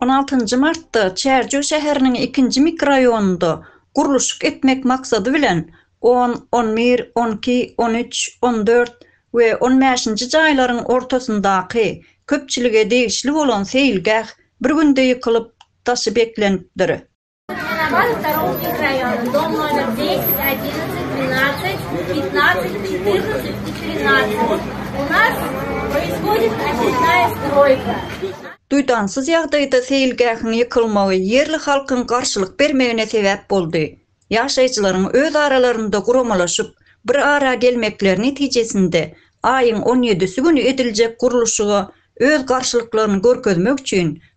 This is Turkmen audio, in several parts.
On altynjy martda Çärjew şäheriniň ikinji mikroraýonynda gurluşyk etmek maksady bilen, on, on bir, on iki, on üç, on dört we on bäşinji jaýlaryň ortasyndaky köpçülige degişli bolan seýilgäh bir günde ýykylyp, daşy beklenipdir. Duýdansyz ýagdaýda seýilgähiň ýykylmagy ýerli halkyň garşylyk bermegine sebäp boldy. Ýaşaýjylaryň öz aralarynda guramalaşyp, bir ara gelmekleri netijesinde, aýyň on ýedisi güni ediljek gurluşyga öz garşylyklaryny görkezmek üçin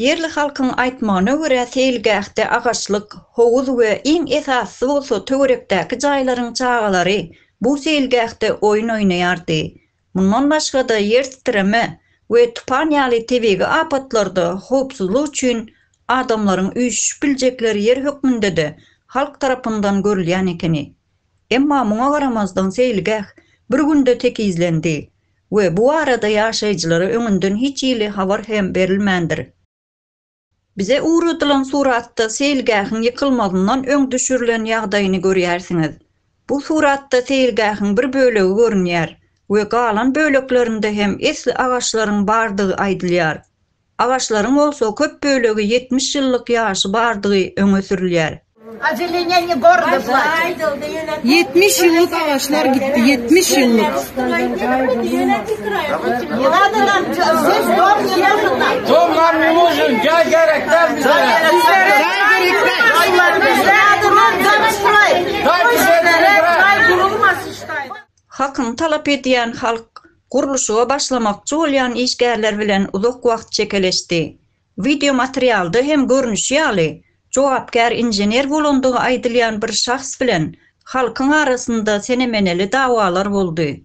Ýerli halkyň aýtmagyna görä, seýilgähde agaçlyk, howuz we iň esasysy bolsa töwerekdäki jaýlaryň çagalary bu seýilgähde oýun oýnaýardy. Mundan başga-da ýer titreme we tupan ýaly tebigy apatlarda howpsuzlyk üçin adamlaryň üýşüşip biljekleri ýer hökmünde-de halk tarapyndan görülýän ekeni. Emma muňa garamazdan seýilgäh bir günde tekizlendi we bu barada ýaşaýjylara öňünden hiç hili habar hem berilmändir. Bize ugradylan suratda seýilgähiň ýykylmazyndan öň düşürilen ýagdaýyny görýärsiňiz. Bu suratda seýilgähiň bir bölegi görünýär we galan böleklerinde hem esli agaçlaryň bardygy aýdylýar. Agaçlaryň bolsa köp bölegi ýetmiş ýyllyk ýaşy bardygy öňe sürülýär. Ýetmiş ýyllyk agaçlar gitdi, ýetmiş ýyllyk. Hakyny talap edýän halk. gurluşyga başlamakçy bolýan işgärler bilen uzak wagt çekeleşdi. Wideo materialda hem görnüşi ýaly, jogapkär inžener bolandygy aýdylýan bir şahs bilen halkyň arasynda sene-meneli dawalar boldy.